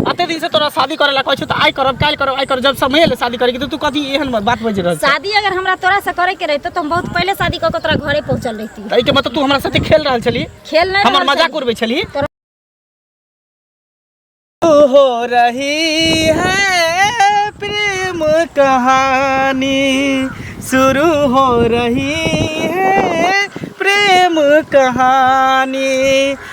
अते दिन से तोरा शादी करे ला कहै छौ त आइ करब काल करब आइ करब जब समय ले शादी करे के त तू कथी एहन मत बात बज रहल छै शादी अगर हमरा तोरा से करे के रहते तो हम बहुत पहले शादी कऽ के तोरा घरे पहुंचल रहती त एके मतलब तू हमरा साथे खेल रहल छली खेल नहीं हमर रहल मजाक छली। उड़बै छली तोरा- हो रही है प्रेम कहानी शुरू हो रही है प्रेम कहानी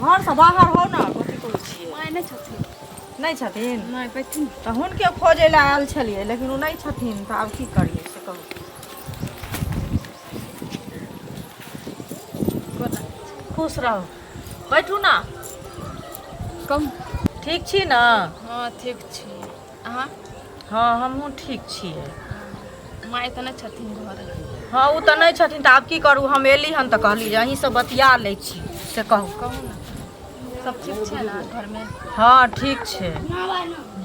घरसँ बाहर हो ने कथी कहै छियै माय नहि छथिन नहि छथिन नहि बैठथिन तऽ हुनके खोजै लए आयल छलियै लेकिन ओ नहि छथिन तऽ आब की करियै से कहू कोना खुश रहू बैठू ने कहू ठीक छी ने हँ ठीक छी अहाँ हँ हमहूँ ठीक छियै माय तऽ नहि छथिन घर हँ ओ तऽ नहि छथिन तऽ आब की करू हम एली हन तऽ कहली जे अहीँसँ बतिया लै छी से कहू कहू ने सब ठीक छै ने घरमे हँ ठीक छै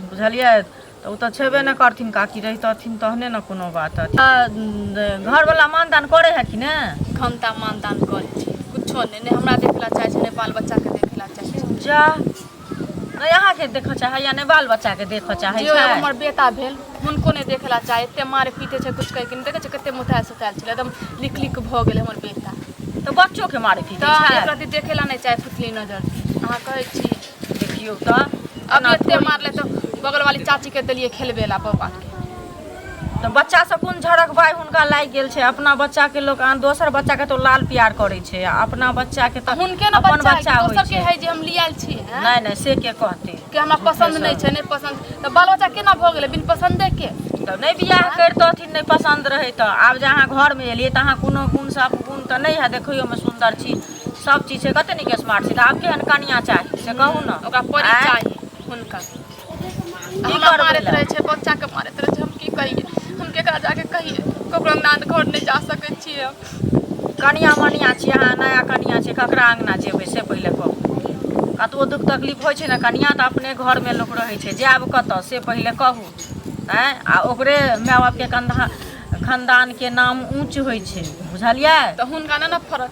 बुझलियै तऽ ओ तऽ छेबे नहि करथिन काकी रहितथिन तहने ने कोनो बात अथी आ, उम, घरवला मानदान करे है कि ने हम तऽ मानदान करै छी कुछो नहि नहि हमरा देखला चाहै छै नहि बाल बच्चाके देखला चाहै छै जा नहि अहाँके देखऽ चाहै या नहि बाल बच्चाके देखऽ चाहै छै हमर बेटा भेल हुनको नहि देखै लए चाहै एते मारे पीटे छै किछु कहैके नहि देखै छै कते मुतायल सुतायल छलै एकदम लिक लिक भऽ गेलै हमर बेटा तऽ बच्चोके मारे पीटे छै एकरा तऽ देखै लए नहि चाहै फुटली नजर अहाँ कहै छी देखियौ तऽ अब एते मारले तऽ बगलवाली चाचीके देलियै खेलबे लए बौआके तऽ बच्चासँ कोन झड़क भाय हुनका लागि गेल छै अपना बच्चाके लोक अहाँ दोसर बच्चाके तऽ लाल प्यार करै छै आ अपना बच्चाके तऽ हुनके ने अपन बच्चा बच्चा होइ दोसर के छै है जे हम लियाल छी हैं? नहि नहि से के कहतै कि हमरा पसन्द नहि छै नहि पसन्द तऽ बाल बच्चा केना भऽ गेलै बिन पसन्दे के तऽ नहि बियाह करितथिन नहि पसन्द रहै तऽ आब जे अहाँ घरमे एलियै तऽ अहाँ कोनो गुणसँ अपन गुण तऽ नहि है देखैयोमे सुन्दर छी सब चीज छै कते नीक स्मार्ट छी तऽ आब केहन कनिया चाही से कहू ने ओकरा परी आँय? चाही हुनका हमरा मारैत रहै छै बच्चाके मारैत रहै छै हम की कहियै हम केकरा जाके कहियै ककरो अंगना घर नहि जा सकै छियै कनिया मनिया छियै अहाँ नया कनिया छियै ककरा अंगना जेबै से पहिले कहू कतबो दुख तकलीफ होइ छै ने कनिया तऽ अपने घरमे लोक रहै छै जायब कतऽ से पहिले कहू आँय आ ओकरे माय बापके कंधा खानदानके नाम ऊँच होइ छै बुझलियै तऽ हुनका नहि ने फरक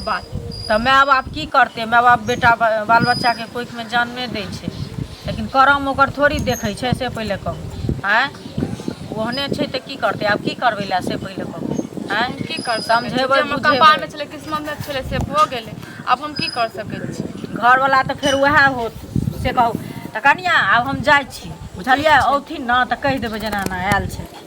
बात तऽ माय बाप की करतै माय बाप बेटा बाल बच्चाके कोखिमे जन्मे दै छै लेकिन करम ओकर थोड़ी देखै छै से पहिले कहू आँय ओहने छै तऽ की करतै आब की करबै लए से पहिले कहू आँय की कर समझेबै जे बुझेबै कपालमे छलै किस्मतमे छलै से भऽ गेलै आब हम की कर सकै छी घरवला तऽ फेर उएह होत से कहू तऽ कनिया आब हम जाइ छी बुझलियै औथिन ने तऽ कहि देबै जेना एना आयल छै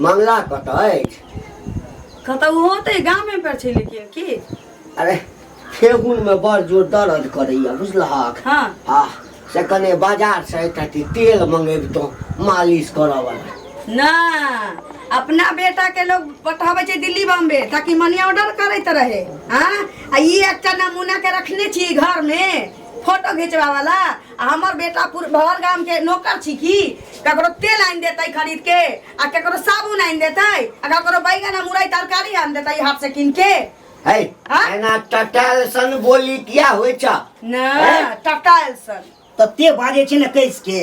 मामला कतऽ अछि कतऽ ओहो तऽ गामे पर छै लेकिन की अरे ठेहुन में बड़ जोर दर्द करैया बुझलहक हाँ। आ से कने बाजार से एकटा ती तेल मंगेबतो मालिश करऽ वाला ना अपना बेटा के लोग पठाबै छै दिल्ली बॉम्बे ताकि मनी ऑर्डर करैत रहे हाँ आ ई एकटा नमूना के रखने छी घर में फोटो घिचवा वाला आ हमर बेटा पुर- भर गाम के नौकर छी की ककरो तेल आनि देतै खरीद के आ ककरो साबुन आनि देतै आ ककरो बैगन आ मुरई तरकारी आनि देतै हाट से कीन के है हाँ? एना टटाल सन बोली किया होइ छ ना हैं? टटाल सन तऽ ते बाजे छै ने कैस के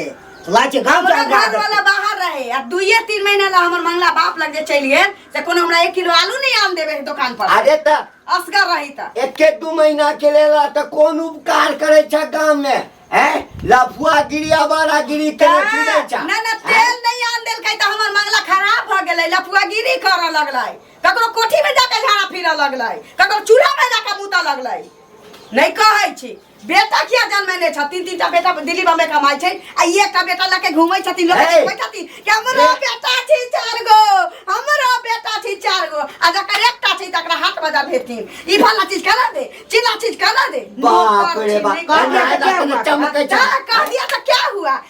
लाज छै गाँव हमरा का घर वाला बाहर रहे आ दुइये तीन महीना ला हमर मंगला बाप लग जे चलि गेल से कोनो हमरा एक किलो आलू नहीं आन देवे है दुकान पर अरे त असगर रही त एके दू महीना के लेल आ त कोन उपकार करे छ गांव में हैं लफुआ गिरी आवारा गिरी के फिरे छ ना ना तेल नहीं आन देल कई त हमर मंगला खराब भ गेलै लफुआगिरी कर लगलै ककरो कोठी में जाके झाड़ा फिरऽ लगलै ककरो चूल्हा में जाके मुतऽ लगलै नहीं कहै छी बेटा किया जन्मेने छ तीन तीन टा बेटा दिल्ली बम्बे कमाई छै आ ई एकटा बेटा लके घुमै छथिन लोग हे। देखै छथिन कि हमरो हे। बेटा छी चार गो हमरो बेटा छी चार गो आ जकर एकटा छै तकरा हाट बाजार भेजथिन ई फला चीज करा दे चिल्ला चीज करा दे बाप रे बाप, कन्या के क्या हुआ? चमकै छै। जा, कह दिया तो क्या हुआ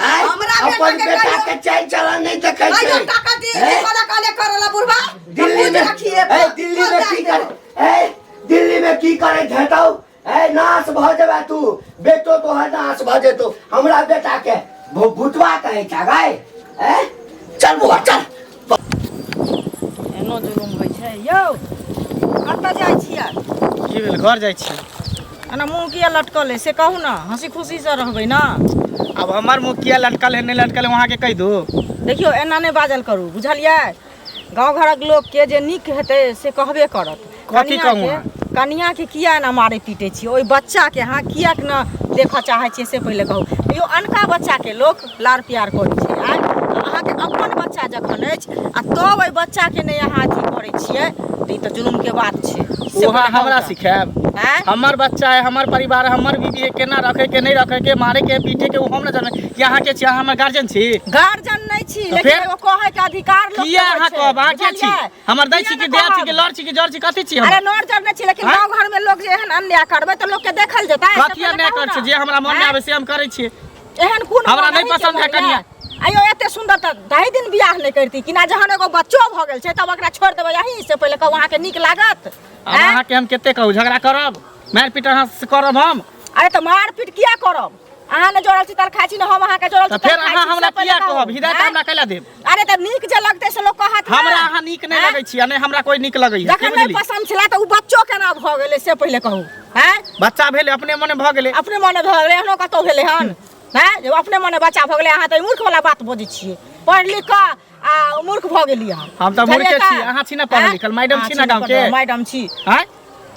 हैं? हमरा बेटा अपन के बेटा कहियो- के चाल चलन नहीं देखे कहियो छै टाका दी हैं? वाला काले करला बुढ़वा दिल्ली में रखिए ए दिल्ली में की कर ए दिल्ली में की करे झेटौ ए नाश भ जेबे तू बेटो तो है नाश भ जेतो हमरा बेटा के भू- भूतवा कहे छगाय ए चल बुआ चल एनो जुलुम होइ छै यौ कतऽ जाइ छियै की भेल घर जाइ छियै एना मुँह किया लटकल है से कहू ने हँसी खुशी से रहबै ने अब हमर मुँह किया लटकल है नहि लटकल है वहाँके कहि दू देखियौ एना नहि बाजल करू बुझलियै गाँव घरक लोकके जे नीक हेतै से कहबे करत कथी कनिया कहूँ के- कनिया के किया एना मारे पीटे छियै ओहि बच्चा के अहाँ किया के ना देखऽ चाहै छियै से पहिले कहू यौ अनका बच्चा के लोक लाड़ प्यार करै छै आँय? आ अहाँके अपन बच्चा जखन अछि आ तब ओहि बच्चा के नहि अहाँ अथी करै छियै तऽ ई तऽ जुलुम के बात छै से ओहा पहिले कहू हमरा तऽ। सिखायब आँय? हमर बच्चा है हमर परिवार है, हमर बीबी है केना रखे के नहीं रखे के मारे के पीटे के वो हम न जाने कि अहाँ के छी अहाँ हमर गार्जियन छी गार्जियन नहि छी तऽ लेकिन फेर? एगो कहै के अधिकार लोक किया अहाँ कहब? अहाँ के छी? हमर दै छी कि दे छी कि लड़ छी कि जड़ छी कथी छी हम अरे नोर जब नहि छी लेकिन हाँ? गांव घर में लोग जे एहन अन्याय करबै तऽ लोग के देखल जेतै कथी अन्याय कर छी जे हमरा मन में आवे से हम करै छी एहन कोन हमरा नहि पसंद है कनिया आयो एते सुंदर त ढाई दिन बियाह नहि करती कि ना जहन एगो बच्चो भ गेल छै तब ओकरा छोड़ देबै यहीं से पहिले कहू अहाँ के नीक लागत अहाँ के हम कते कहू झगड़ा करब मारपीट अहाँ से करब हम अरे तऽ मारपीट किया करब अहाँ ने जोड़ल छी तर खाइ छी ने हम अहाँके जोड़ल तऽ छी फेर तर खाइ अहाँ छी, हमरा सब किया पहिले कहू। कहब हिदायत आँय? हमरा कैला देब अरे तऽ नीक जे लगतै से लोक कहत ने। हमरा अहाँ नीक नहि आँय? लगै छी आ नहि हमरा कोई नीक लगैया के जखन नहि बुझली पसन्द छलै तऽ ओ बच्चो केना भऽ गेलै से पहिले कहू हैं बच्चा भेल अपने मने भऽ गेलै अपने मने भऽ गेलै एहनो कतौ भेलै हन हैं जे अपने मने बच्चा भऽ गेलै अहाँ तऽ ई मूर्ख वाला बात बजै छियै पढ़ि लिख कऽ आ मूर्ख भऽ गेली अहाँ हम तऽ मूर्खे छी अहाँ छी ना पढ़ल लिखल मैडम छी ना गांव के मैडम छी हैं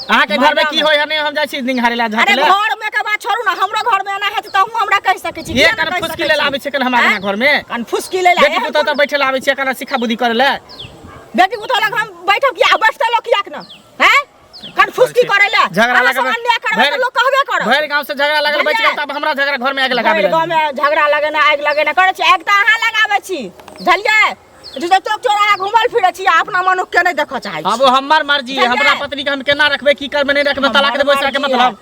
अहाँ के घर में की होय हने हम जाय छी निंघारे ला झाके अरे घर में के बात छोड़ू ना हमरो घर में आना है त हम हमरा कह सके छी ये कन फुसकी ले लाबे छै कन हमरा घर में कन फुसकी ले लाबे बेटी पुतो त बैठे लाबे छै कन सिखा बुद्धि करे ले बेटी पुतो लग हम बैठब कि आ बैठते लोग किया के ना हैं कन फुसकी करे ले झगड़ा हमरा लगा से अन्याय करबे त लोग कहबे करत भैर गांव से झगड़ा लगल बच गेल तब हमरा झगड़ा घर में आग लगाबे भरि गाँव में झगड़ा लगेना आगि लगेना करै छी आगि तऽ अहाँ लगाबै छी बुझलियै जे चौक चौराहा घुमल फिरै छी आ अपना मनुख के नहि देखऽ चाहै छी अब वो हमार मर्जी है हमरा पत्नी के हम केना रखबे की करबे नहीं रखबे तलाक देबे ओकरा के मतलब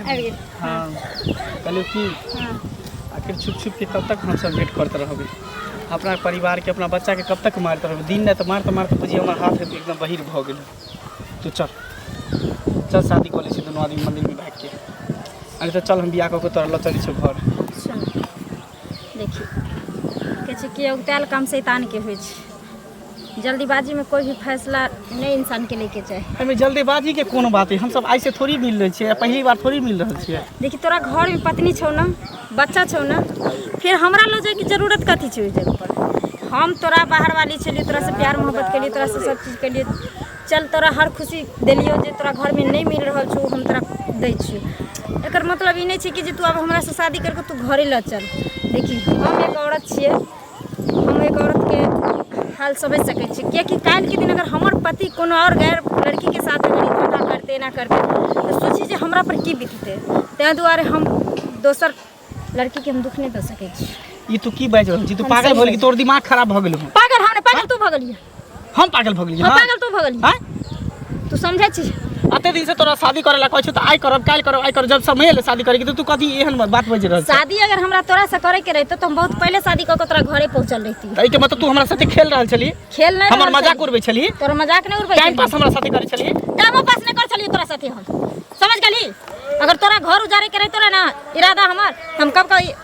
आबि गेल हँ कहलियौ की हँ आखिर छुप छुप के कब तक हमसब वेट करते रहबै अपना परिवार के अपना बच्चा के कब तक मारत रहबै दिन रात मारते मारते बुझिए हमर हाथ एकदम बहिर भऽ गेल तू चल चल शादी कऽ लै छी दुनू आदमी मंदिर में भागि के अरे तऽ चल हम बियाह कऽ के तोरा लऽ चलै छौ घर सुन देखी कहै छै कि औगतायल काम शैतानके होइ छै जल्दीबाजी में कोई भी फैसला नहीं इंसान के लेके चाहे एहिमे जल्दीबाजी के कोनो बात है हम सब ऐसे थोड़ी मिल रहे छियै पहली बार थोड़ी मिल रहे छियै देखी तोरा घर में पत्नी छौ ना बच्चा छौ ना फिर हमरा लो जाए की जरूरत कथी छै ओहि जगह पर हम तोरा बाहर वाली छलियै तोरा से प्यार मोहब्बत केलियै तोरा से सब चीज केलियै चल तोरा हर खुशी देलियो जे तोरा घर में नहीं मिल रहल छौ हम तोरा दै छियौ एकर मतलब ई नहि छै कि जे तू आब हमरा से शादी करके तू घरे लऽ चल देखी हम एक औरत छियै हम एक औरतके हाल समझि सकै छी किएकि काल्हिके दिन अगर हमर पति कोनो आओर गैर लड़कीके साथ अगर ई धन्धा करतै एना करतै तऽ सोचू जे हमरापर की बिततै ताहि दुआरे हम दोसर लड़कीके हम दुःख नहि दऽ सकै छी ई तू की बाजि रहल छी तू हम पागल सही भऽ गेलही बाजि- तोर दिमाग खराब भऽ गेलौ पागल हम नहि पागल तू भऽ गेलियै हम पागल भऽ गेलियै हम हाँ? पागल तो भऽ गेली हाँ? तू समझै छी अते दिन से तोरा शादी करे ला कहै छौ तऽ आइ करब काल्हि करब आइ करब जब समय एलै शादी करे के तऽ तू कथी एहन मत बात बाजि रहल छै शादी अगर हमरा तोरा से करे के रहते तो हम बहुत पहले शादी कऽ के तोरा घरे पहुंचल रहती तऽ एहिके मतलब तू हमरा साथे खेल रहल छली खेल नहीं हमर मजाक उड़बै छली तोरा मजाक नहीं उड़बै टाइम पास हमरा साथे करै छली टाइमो पास नहीं कर छलियो तोरा साथे हम समझ गेली अगर तोरा घर उजारे के रहतो रहे ना इरादा हमर हम कब कब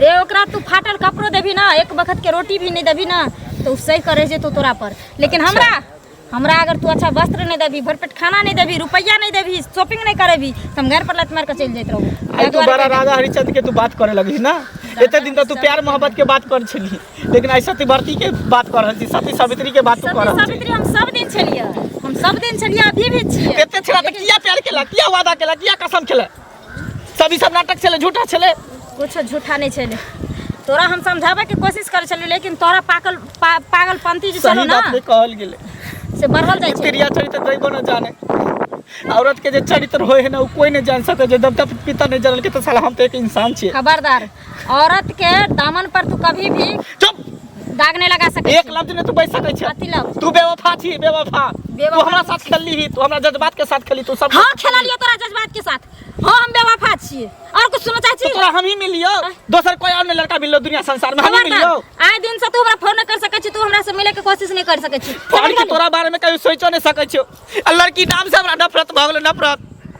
रे ओकरा तू फाटल कपड़ो देबी ना एक वक्त के रोटी भी नहीं देबी ना तो उ सही करे जेतो तोरा पर लेकिन हमरा हमरा अगर तू अच्छा वस्त्र नहीं देबी भरपेट खाना नहीं देबी रुपया नहीं देबी शॉपिंग नहीं करेबी तो हम घर पर लत मार के चल जात रहू आई तू बड़ा राजा हरिचंद के तू बात करे लगी ना एते दिन तक तू प्यार मोहब्बत के बात कर छली लेकिन आई सती भरती के बात कर रहल छी सती सावित्री के बात तू कर रहल छी सावित्री हम सब दिन छलिए हम सब दिन छलिए अभी भी छिए एते छड़ा त किया प्यार केला किया वादा केला किया कसम खेला सब ई सब नाटक छलै झूठा छलै कुछो झूठा नहीं छले तोरा हम समझाबे के कोशिश करे छलियो लेकिन तोरा पागल पा, पागलपंती जे सही चलो ना बात नहीं कहल गेलै से बढ़ल जाए छे प्रिया चरित्र दैबो न जाने औरत के जे चरित्र होय है ना उ कोई नहीं जान सके जे देवता पिता नहीं जानल के तो साला हम तो एक इंसान छियै खबरदार औरत के दामन पर तू कभी भी चुप दाग नहीं लगा सके एक लफ्ज ने तू बज सकै छै अति लफ्ज तू बेवफा छी बेवफा तू बेवफा हमरा साथ खेलली ही तू हमरा जज्बात के साथ खेली तू सब हाँ खेला लियो तोरा जज्बात के साथ हाँ हम बेवफा छिए और कुछ सुनना चाहे तो छी तोरा हम ही मिलियो दोसर कोई और ने लड़का मिललो दुनिया संसार में हम ही मिलियो आए दिन से तू हमरा फोन नहीं कर सके छी तू हमरा से मिले के कोशिश नहीं कर सके छी फोन के तोरा बारे में कभी सोचो नहीं सकै छियो आ लड़की नाम से हमरा नफरत भऽ गेलो नफरत